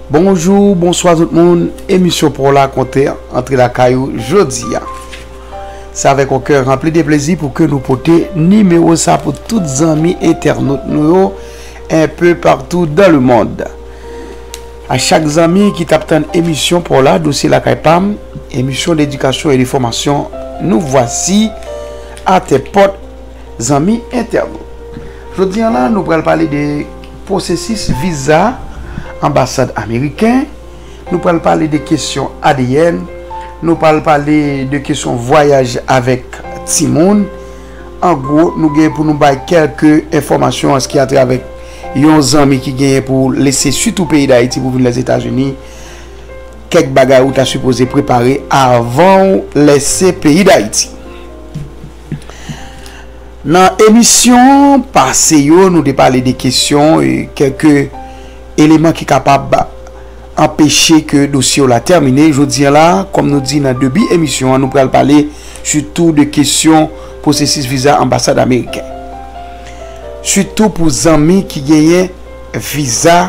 Bonjou, bonswa tout moun, emisyon Pou la konte antre la kayou jodi ya. Se avèk yon kè ranpli de plezi pou ke nou pote nimewo sa pou tout zanmi entènot nou yo un peu partout dans le monde. A chak zanmi ki tap tann emisyon Pou la dosye la kay pam, emisyon d'edikasyon e de fòmasyon nou vwasi a tè pòt Zanmi entènot, jodi an la nou pral pale de pwosesis viza anbasad ameriken, nou pral pale de kesyon adn, nou pral pale de kesyon vwayaj avèk timoun, an gwo nou gen pou nou bay kèlke enfòmasyon an ski atravè yon zanmi ki genyen pou lese sitou peyi dayiti pou vin lèzetazini, kèk bagay ou ta sipoze prepare avanw lèse peyi dayiti. Nan emisyon pase yo nou te pale de kesyon e kèlke eleman ki kapab anpeche ke dosye w la tèmine. Jodi an la, kòm nou di nan debi emisyon an, nou pral pale sitou de kesyon pwosesis viza anbasad ameriken. Sitou pou zanmi ki genyen viza.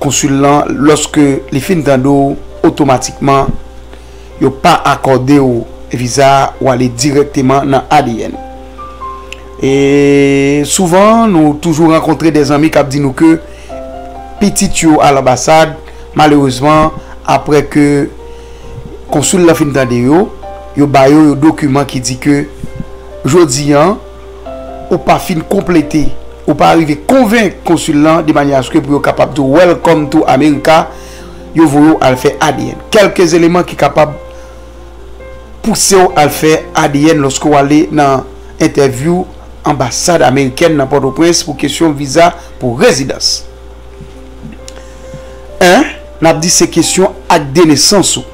Konsul lan loske li fin tande w otomatikman yo pa akòde w viza a ou ale dirèkteman nan adn. E souvan nou toujou rankontre de zanmi kap di nou ke pitit yo al anbasad malerezman aprè ke konsul lan fin tande yo yo ba yo yo dokiman ki di ke jodi an. Ou pa fin konplete, ou pa arive konvenk konsul lan de manye aske pou yo kapab di w Welcome to America, yo voye w al fè adn. Kèlke eleman ki kapab pouse w al fè adn lòske w ale nan entèvyou anbasad amerikèn nan Pòtoprens pou kesyon viza pou rezidans. 1, N ap di se kesyon ak de nesans ou.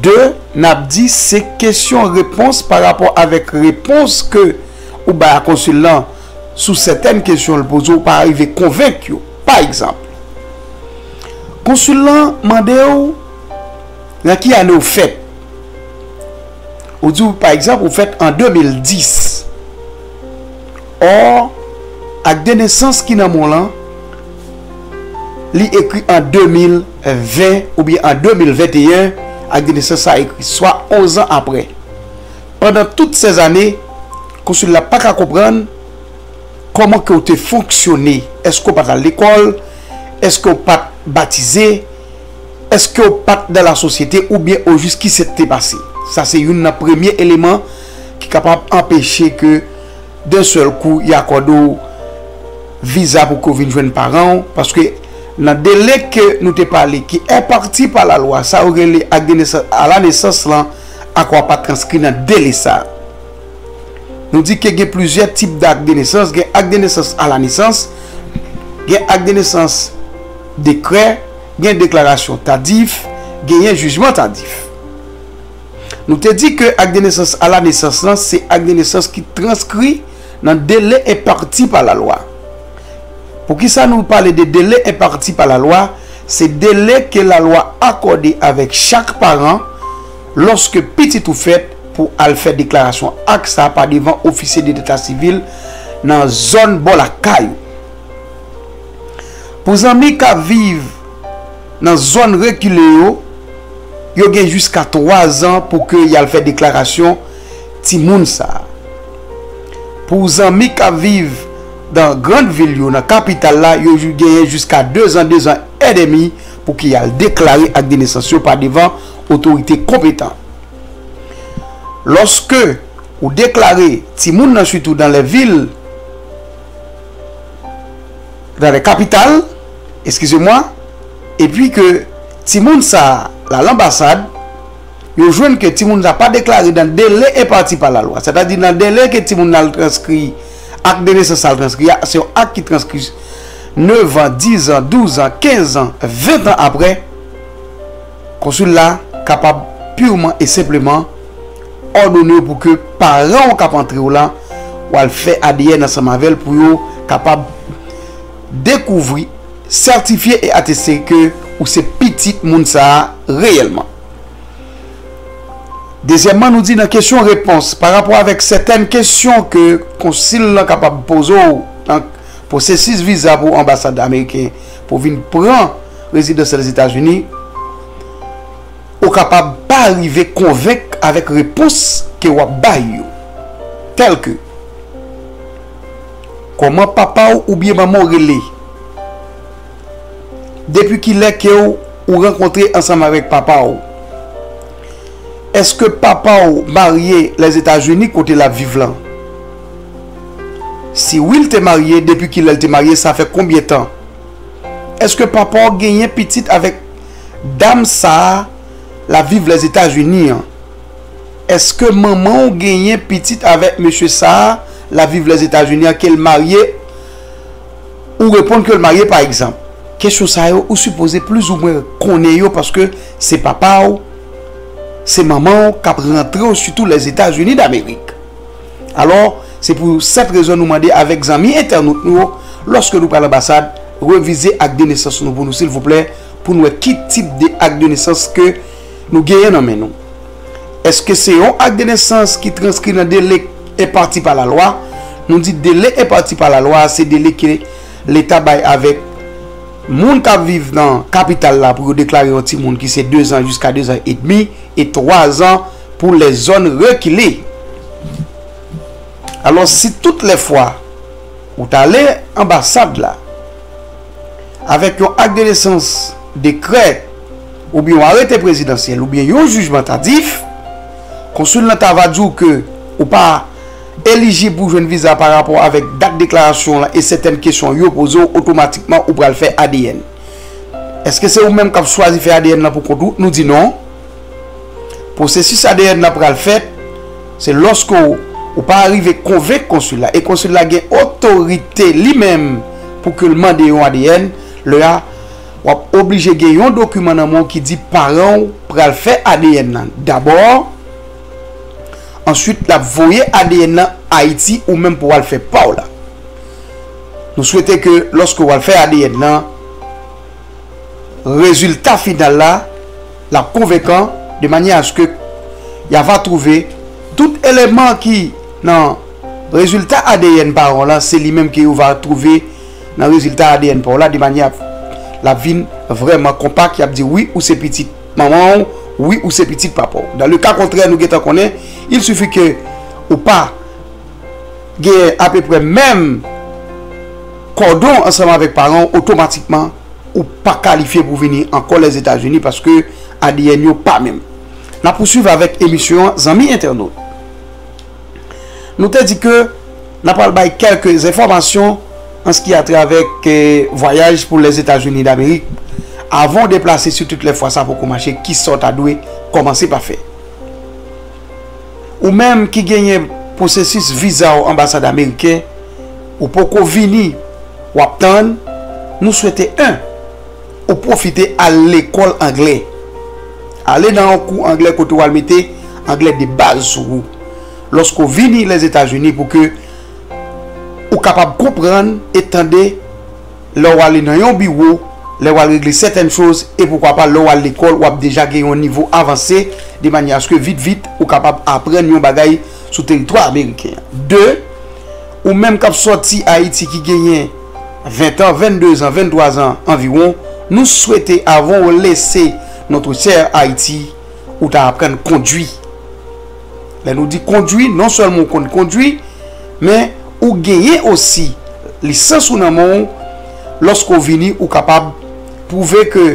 2, Nap di se kesyon repons pa rapò avèk repons ke ou bay a konsil lan sou sètèn kesyon l poze ou pa arive konvenk yo. Pa egzanp, konsil lan mande ou nan ki ane ou fèt, ou di pa egzanp ou fèt an 2010, or akdenesans ki nan men w lan li ekri an 2000. 20 oubyen an 2021 ak de nesans sa ekri, swa onzan apre. Pandan tout sèz ane, Konsil la pa ka konprann kòman ke w te fonksyone, èske w pa t al lekòl, èske w pa t batize, èske w pa t nan lasosyete oubyen ojis ki sèt te pase. Sa se youn nan premye eleman ki kapab anpeche ke. D'un seul coup y akòde w viza pou ke w vin jwenn paran w, paske nan dele ke nou te pale ki enparti pa la lwa sa yo rele acte de naissance à la naissance lan ak wa pa transkri nan dele sa. Nou di ke gen plizyè tip d'acte de naissance, gen acte de naissance à la naissance, gen acte de naissance dekrè, gen deklarasyon tadif, genyen jijman tadif. Nou te di ke ak de nesans a la nesans lan se ak de nesans ki transkri nan dele enpati pa lalwa. Poukisa nou pale de dele enpati pa lalwa? Se dele ke lalwa akòde avèk chak paran lòske pitit ou fèt pou al fè deklarasyon ak sa pa devan ofisye de deta sivil nan zòn bò lakay ou. Pou zanmi ka viv. Nan zòn rekile yo, yo gen jiska 3 zan pou ke y al fè deklarasyon timoun sa a. Pou zanmi k ap viv dan grand vil yo nan kapital la, yo genyen jiska 2 zan, 2 zan èdemi pou ke y al deklare ak de nesans yo pa devan otorite konpetan. Lòske ou deklare timoun nan sitou dan lè vil, dans les capitales, excusez-moi, et puis que timoun sa la l'ambassade, yo jwenn ke timoun sa pa deklare nan dele enpati pa lalwa, sètadi nan dele ke timoun nan al transkri ak de nesans sa al transkri a, se yon ak ki transkri nevan, dizan, douzan, kenzan, ventan aprè. Konsul la kapab purman e senpleman òdone w pou ke paran w k ap antre w la w al fè adn ansanm avè l pou yo kapab dekouvri, sètifye e ateste ke ou se pitit moun sa a reyèlman. Dezyèmman, nou di nan kesyon repons parapò avèk sètèn kesyon ke konsil lan kapab poze w nan pwosesis viza pou anbasad ameriken pou vin pran Rezidansyèl Lèzetazini, ou kapab pa rive konvenk avèk repons ke w ap bay yo, tèlke, Kòman papa w oubyen manman w rele? Depi kilè ke w ou rankontre ansanm avèk papa w? Èske papa w marye Lèzetazini kote l ap viv lan? Si wi l te marye, depi kilè l te marye, sa fè konbyen tan? Eske papa w genyen pitit avek dam sa lap viv les etats unis an eske manman w genyen pitit avek mesye sa lap viv les etats unis an kel marye ou reponn kel marye pa egzanp. Kesyon sa yo ou sipoze plis ou mwen konnen yo paske se papa w se manman w kap rantre w sitou les etats unis d'amerik. Alò, se pou sèt rezon nou mande avèk zanmi entènot nou yo, lòske nou pral anbasad, revize ak de nesans nou pou nou silvouplè, pou nou wè ki tip de ak de nesans ke nou genyen nan men nou. Eske se yon ak de nesans ki transkri nan dele k enpati pa lalwa? Nou di dele enpati pa lalwa a se dele ke leta bay avèk moun kap viv nan kapital la pou yo deklare yon timoun ki se dezan jiska dezan edmi e twazan Pou lè zòn rekile. Alò si tout lè fwa ou ta ale anbasad la avèk yon ak de nesans, dekrè oubyen yon arete prezidansyèl oubyen yon jijman tadif, konsil lan ta va di w ke ou pa elijib pou jwenn viza pa rapò avèk dat deklarasyon w lan e sètèn kesyon yo poze w otomatikman ou pral fè adn. Eske se ou menm k ap chwazi fè adn lan pou kont ou? Nou di non. Pwosesis adn lan pral fèt se lòske ou pa arive konvenk konsil la e konsil la gen otorite li menm pou ke l mande yon adn, lè a w ap oblije gen yon dokiman nan men w ki di paran w pral fè adn lan dabò, answit l ap voye adn lan Ayiti ou menm pou w al fè pa w la. Nou swete ke lòske w al fè adn lan. rezilta final la lap konvenkan de manyè aske ya va twouve tout eleman ki nan rezilta adn paran w la se li menm ke yo va twouve nan rezilta adn pa w la de manyè ap lap vin vrèman konpak yap di wi ou se pitit manman w wi ou se pitit papa w dan le ka kontrè nou gentan konnen il sifi ke ou pa genyen apeprè menm. Kòdon ansanm avèk paran w otomatikman ou pa kalifye pou vini ankò Lèzetazini paske adn yo pa menm. N ap pouswiv avèk emisyon an zanmi entènot. Nou te di ke n ap pral bay kèlke enfòmasyon an s ki a trè avèk vwayaj pou Lèzetazini Damerik avan w deplase sitout lè fwa sa poko mache ki sa w ta dwe kòmanse pa fè. Ou menm ki genyen pwosesis viza w anbasad ameriken. Ou poko vini wap tann nou swete 1 ou pwofite al lekòl anglè ale nan yon kou anglè kote wal mete anglè de baz sou ou lòske w vini Lèzetazini pou ke ou kapab konprann e tande lè w ale nan yon biwo lè wal regle sètèn choz e poukwa pa lè wal lekòl wap deja gen yon nivo avanse de manyè aske vit vit ou kapab aprann yon bagay sou teritwa ameriken an 2. Ou menm k ap sòti Ayiti ki genyen 20 an, 22 zan, 23 zan anviwon, nou swete avan ou lese notre chère Ayiti, ou ta aprann kondwi. Lè nou di kondwi, non sèlman ou konn kondwi, men ou genyen osi lisans ou nan men w, lòske ou vini ou kapab pwouve ke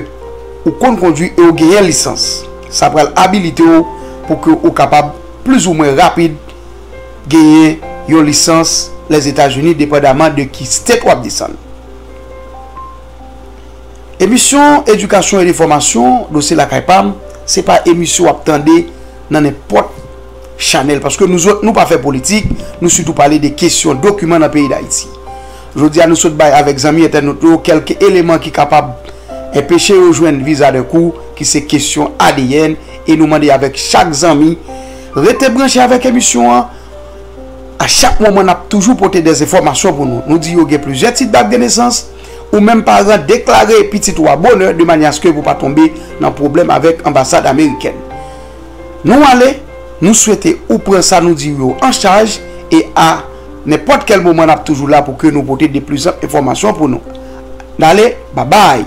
ou konn kondwi e ou genyen lisans. Sa pral abilite w pou ke ou kapab plizoumwen rapid genyen yon lisans Lèzetazini depandaman de ki state wap desann. Emisyon edikasyon e enfòmasyon Dosye Lakay Pam se pa emisyon wap tande nan nenpòt chanèl paske nou zòt nou pa fè politik, nou sitou pale de kesyon dokiman nan peyi Dayiti. Jodi a nou sot bay avèk zanmi entènot yo kèlk eleman ki kapab enpeche yo jwenn viza dèkou ki se kesyon adn e nou mande avèk chak zanmi Rete branche avèk emisyon an, a chak moman nap toujou pote des enfòmasyon pou nou. Nou di yo gen plizyè tit dat de nesans, ou menm paran deklare pitit ou a bonè de manyè aske pou pa tonbe nan pwoblèm avèk anbasad amerikèn. Nou ale, nou swete ou pran sa nou diw yo an chaj e a nenpòt kèl moman nap toujou la pou ke nou pote de plizanp enfòmasyon pou nou. Nale, babay!